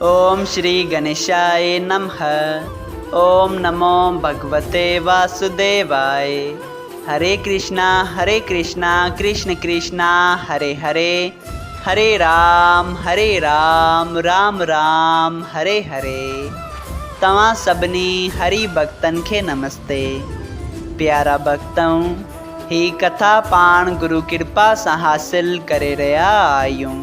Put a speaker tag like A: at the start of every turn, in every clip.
A: اوم شري گنيشائي نمه اوم نمو ڀڳوتي واسوديوائي هري ڪرشنا هري ڪرشنا ڪرشن ڪرشنا هري هري هري رام هري رام رام رام هري هري توهان سڀني هري ڀڳتن کي نمستي پيارا ڀڳتؤن هي ڪٿا پاڻ گرو ڪرپا سان حاصل ڪري رهيا آهيون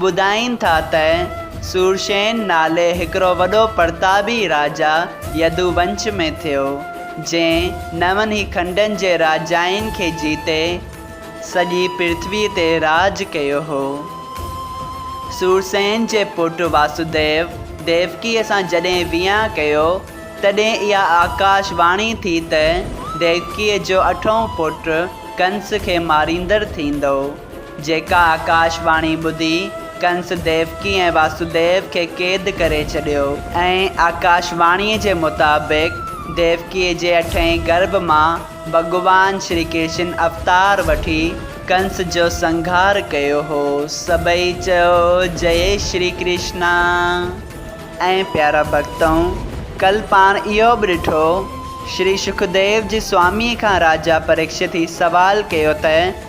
A: ٻڌائين ٿا ته سورسين نالي هڪڙو وڏو پرتابي راجا يدو ونش ۾ ٿيو، جنهن نون ئي کنڊن جي راجائن کي جيتي سڄي پرٿوي تي راڄ ڪيو هو. سورسين جي پٽ واسوديو ديوڪيء سان جڏهن ويهان ڪيو، تڏهن اها آڪاش واڻي ٿي ته ديوڪيء جو اٺون پٽ ڪنس کي ماريندڙ ٿيندو. جيڪا آڪاش واڻي ٻڌي ڪنس ديوڪي ۽ واسوديو کي قيد ڪري ڇڏيو ۽ آڪاش واڻيء جي مطابق ديوڪيء جي اٺئين گرڀ مان ڀڳوان شري ڪرشن اوتار وٺي ڪنس جو سنگهار ڪيو هو. سڀئي چيو جئي شري ڪرشنا ۽ پيارا ڀڳتؤن ڪل پاڻ اهو به ڏٺو شري شڪديو جي سواميء کان راجا پريڪشت هي سوال ڪيو ته،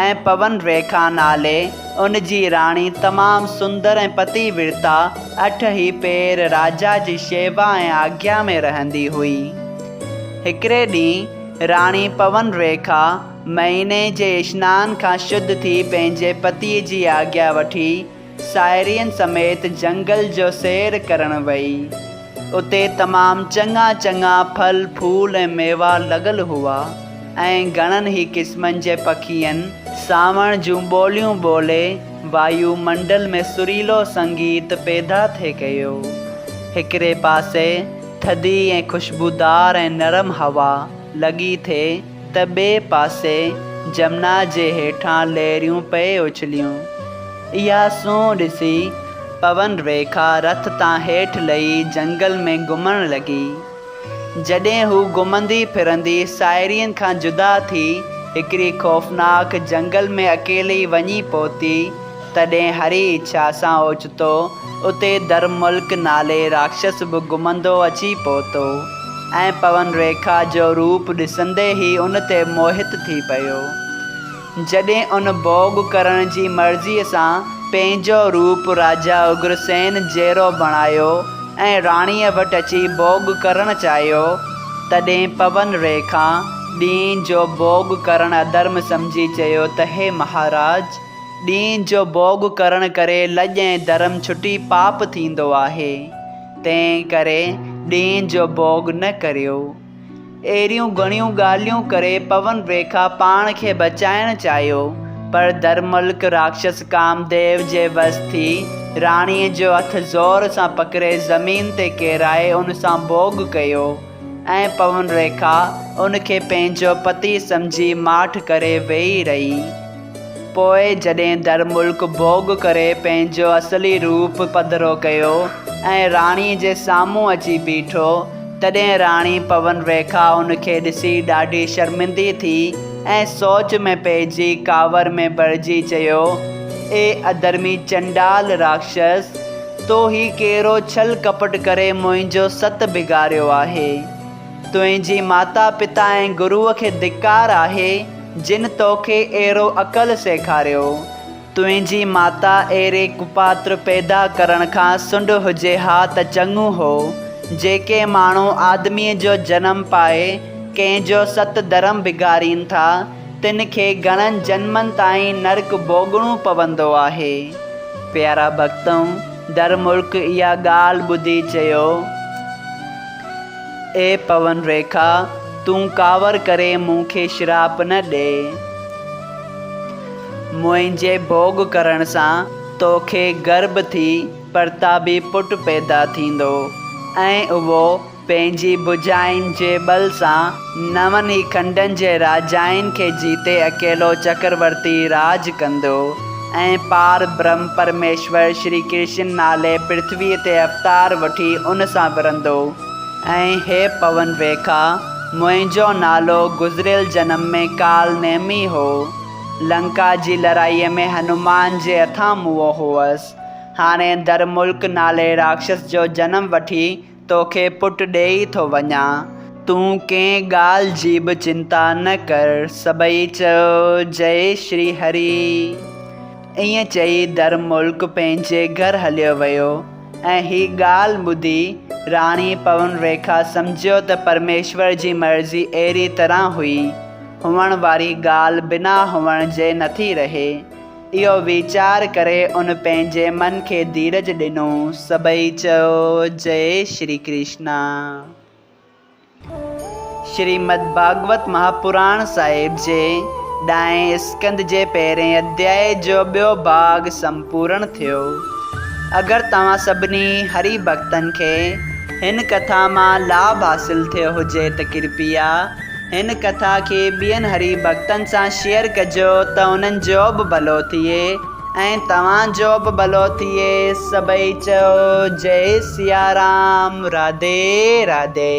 A: ۽ پون ريکا نالي ان جي راڻي تمام سندر ۽ پتي ورتا اٺ هي پير راجا جي شيوا ۽ آگيا ۾ رهندي هئي. هڪڙي ڏينهن راڻي پون ريکا مهيني جي اشنان کان شڌ ٿي پنهنجي پتي جي آگيا وٺي ساهيڙين سميت جهنگل جو سير ڪرڻ وئي. اتي تمام چڱا چڱا ڦل ڦول ۽ ميوا لڳل هئا ۽ گهڻن ئي قسمن جي پکين سانوڻ جون ٻوليون ٻولي وايو منڊل ۾ سريلو سنگيت پيدا ٿي ڪيو. هڪڙي پاسي ٿڌي ۽ خوشبودار ۽ نرم هوا لڳي ٿي. ته ٻئي پاسي جمنا جي هيٺان لهريون پئي اڇليون. اها سونهن ڏسي پون ريکا رٿ تان هيٺ لهي جهنگل ۾ گهمڻ لڳي. جڏهن هو گهمندي ڦرندي ساهيڙين کان جدا ٿي هڪڙي خوفناڪ جهنگل ۾ اڪيلي وڃي پهتي، تڏهن هري اڇا سان اوچتو اتي درملڪ نالي راڪشس به گهمندو اچي پهتو ۽ پون ريکا جو روپ ڏسندي ئي ان تي موهت ٿي پيو. جڏهن ان ڀوڳ ڪرڻ جي مرضيء سان پنهنجو روپ راجا اگرسين جهڙو بڻايو ۽ راڻيء وٽ اچي ڀوڳ ڪرڻ چاهيو، تڏهن پون ريکا ڏينهن جو ڀوڳ ڪرڻ اڌرم سمجهي چيو ته هي مهاراج! ڏينهن جو ڀوڳ ڪرڻ ڪري لڄ ۽ ڌرم ڇٽي پاپ ٿيندو آهي، تنهن ڪري ڏينهن جو ڀوڳ نه ڪريو. اهڙيون گهڻيون ڳالهيون ڪري پون ريکا پاڻ کي بچائڻ چاهيو، پر درملڪ راڪشس ڪامديو جي وس ٿي راڻيء جو هٿ زور سان پڪڙي زمين تي ڪيرائي ان سان ڀوڳ ڪيو ۽ پون ريکا ان کي پنهنجو پتي سمجهي ماٺ ڪري ويهي رهي. پوء جڏهن در ملڪ ڀوڳ ڪري پنهنجو اصلي روپ پڌرو ڪيو ۽ راڻي جي سامهون اچي بيٺو، تڏهن راڻي پون ريکا ان کي ڏسي ڏاڍي شرمندي ٿي ۽ سوچ ۾ پئجي ڪاوڙ ۾ ڀرجي چيو، اي اڌرمي چنڊال راڪشس! تو هي ڪهڙو ڇل ڪپٽ ڪري منهنجو ست بگاڙيو آهي؟ تنهنجي ماتا پتا ۽ گروء کي ڌڪار آهي جن توکي اهڙو عقل سيکاريو. تنهنجي ماتا اهڙي ڪپاتر پيدا ڪرڻ کان سنڊ هجي ها ته چڱو هو. جيڪي ماڻهو آدميء جو جنم پائي ڪنهن جو ست ڌرم بگاڙين ٿا تن کي گهڻن جنمن تائين نرڪ ڀوڳڻو پوندو آهي. پيارا ڀڳتؤ! در ملڪ اها ڳالهه ٻڌي چيو. اي پون ريکا تون ڪاوڙ ڪري مون کي شراپ نه ڏي. منهنجي ڀوڳ ڪرڻ سان توکي گرڀ ٿي پرتابي پٽ پيدا ٿيندو ۽ اهو پنهنجي ڀجائين جي ٻل سان نون ئي کنڊن جي راجائن کي جيتي اڪيلو چڪرورتي راڄ ڪندو ۽ پار برهم پرميشور شري ڪرشن نالي پرٿويء تي اوتار وٺي ان سان ورندو ۽ هي پون ويکا، منهنجو نالو گذريل جنم ۾ ڪال نيمي هو، لنڪا جي لڙائيء ۾ هنومان جي هٿان موئو هوس، هاڻي در ملڪ نالي راڪشس جو جنم وٺي توکي پٽ ڏيئي ٿو وڃان، تون ڪنهن ڳالهه جي به چنتا نه ڪر. سڀئي چيو، جئي شري هري. ائين چئي در ملڪ پنهنجي گهر هليو ويو ۽ هي ڳالهه ٻڌي راڻي پون ريکا سمجهيو ته پرميشور جي مرضي اهڙي طرح هئي، هئڻ واري ڳالهه بنا هئڻ جي نٿي رهي. اهو ويچار ڪري ان پنهنجي من کي ڌيرج ڏنو. سڀئي چيو جئي شري ڪرشنا. شريمد ڀاڳوت مهاپراڻ صاحب جي ڏهين اسڪند جي پهرين اڌياء جو ٻيو ڀاڳ سمپورڻ ٿيو. اگر توهان سڀني هري ڀڳتن کي هن ڪٿا مان لاڀ حاصل ٿيو هجي ته ڪرپيا هن ڪٿا کي ٻين هري ڀڳتن سان شيئر ڪجو ته انهن جو به ڀلو ٿئي ۽ توهان جو به ڀلو ٿئي سڀئي چئو جئي سيارام راڌي راڌي.